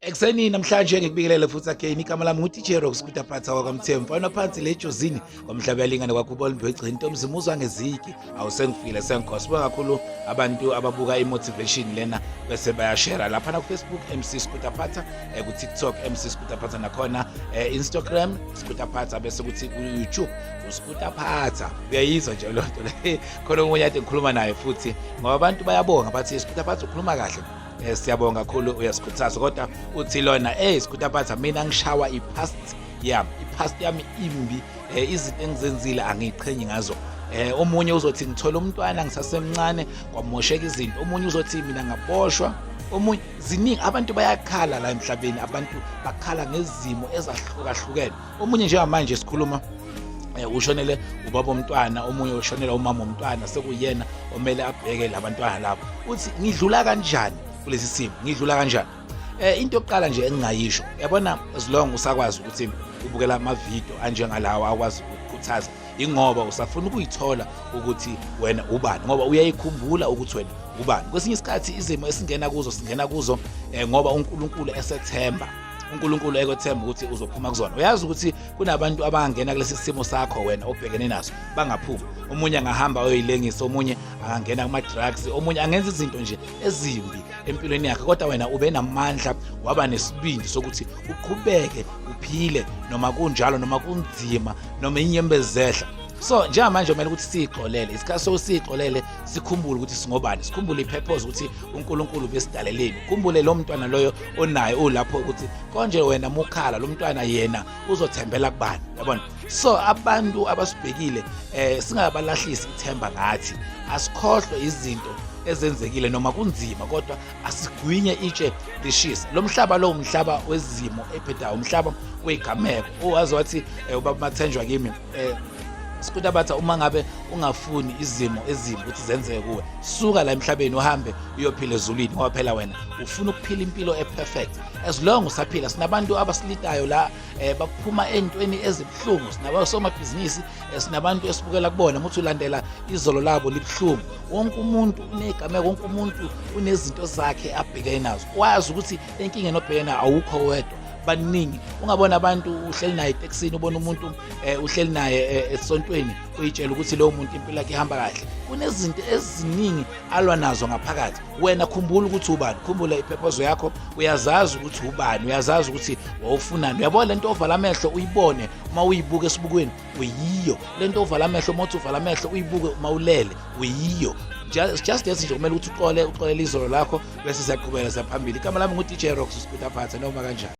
Ekuseni namhlanje ngikubingelele futhi again igama lami nguTJ Rocks kudaphatha kwakwamthembu mfana phansi le jozini kwamhlaba yalingane kwakhubona imbegcini ntomzi muzwa ngeziki awu sengifile sengikho sibuka kakhulu abantu ababuka i-motivation lena bese bayashera lapha nakufacebook mc skudaphatha eh, kutiktok mc skudaphatha nakhona eh, instagram skudaphatha bese kuthi kuyoutube uskudaphatha uyayizwa nje loo nto le khona omunye ade ngikhuluma naye futhi ngoba abantu bayabonga bathi skudaphatha ukhuluma kahle Eh siyabonga kakhulu uyasikhuthaza kodwa uthi lona eh sikutha phatha mina ngishawa ipast yam ipast yami imbi eh, izinto engizenzile angiqhenyi ngazo eh omunye uzothi ngithola umntwana ngisasemncane kwamosheka izinto omunye uzothi mina ngaboshwa omunye ziningi abantu bayakhala la emhlabeni abantu bakhala ngezimo ezahlukahlukene omunye njengamanje sikhuluma eh, ushonele ubaba omntwana omunye ushonela umama omntwana sekuyena omele abheke labantwana labo uthi ngidlula kanjani kulesi simo ngidlula kanjani eh into yokuqala nje engingayisho yabona as long usakwazi ukuthi ubukela amavidiyo anjengalawo akwazi ukukhuthaza ingoba usafuna ukuyithola ukuthi wena ubani ngoba uyayikhumbula ukuthi wena ubani kwesinye isikhathi izimo esingena kuzo singena kuzo eh, ngoba uNkulunkulu esethemba uNkulunkulu ekwethemba ukuthi uzophuma kuzona uyazi ukuthi kunabantu abangena kulesi simo sakho wena obhekene naso bangaphumi omunye angahamba oyoyilengisa omunye angangena kuma drugs omunye angenza izinto nje ezimbi empilweni yakhe kodwa wena ube namandla waba nesibindi sokuthi uqhubeke uphile noma kunjalo noma kunzima noma inyembezehla so njengamanje kumele ukuthi siyixolele isikhathi sokusiyixolele sikhumbule ukuthi singobani sikhumbule i-purpose ukuthi unkulunkulu besidaleleni ukhumbule lo mntwana loyo onaye ulapho ukuthi konje wena mukhala lo mntwana yena uzothembela kubani yabona so abantu abasibhekile eh singabalahlisi ithemba ngathi asikhohlwe izinto ezenzekile noma kunzima kodwa asigwinye itshe lishisa lo mhlaba lo umhlaba wezimo ebhedayo umhlaba wegameko owazi wathi eh, ubaba mathenjwa kimi eh Sikuda batha uma ngabe ungafuni izimo ezimbi ukuthi zenzeke kuwe suka la emhlabeni uhambe uyophila ezulwini ngoba phela wena ufuna ukuphila impilo eperfect as long usaphila sinabantu abasilitayo la eh, baphuma entweni ezibuhlungu sinabasomabhizinisi eh, sinabantu esibukela kubona ukuthi ulandela izolo labo libuhlungu wonke umuntu unegameko wonke umuntu unezinto zakhe abhekene nazo wazi ukuthi enkinga enobhekene awukho wedwa baningi ungabona abantu uhleli naye etekisini ubona umuntu eh, uhleli naye eh, esontweni uyitshela ukuthi lowo muntu impilo yakhe ihamba kahle kunezinto eziningi alwa nazo ngaphakathi wena khumbula ukuthi ubani khumbula iphephozo yakho uyazazi ukuthi ubani uyazazi ukuthi wawufunani uyabona le nto ovala amehlo uyibone uma uyibuka esibukweni uyiyo le nto ovala amehlo uma uthi uvala amehlo uyibuke uma ulele uyiyo just just lesi nje kumele ukuthi uqole uqolele izolo lakho bese siyaqhubeka siyaphambili igama lami ngu-dj rox uspita phathe noma kanjani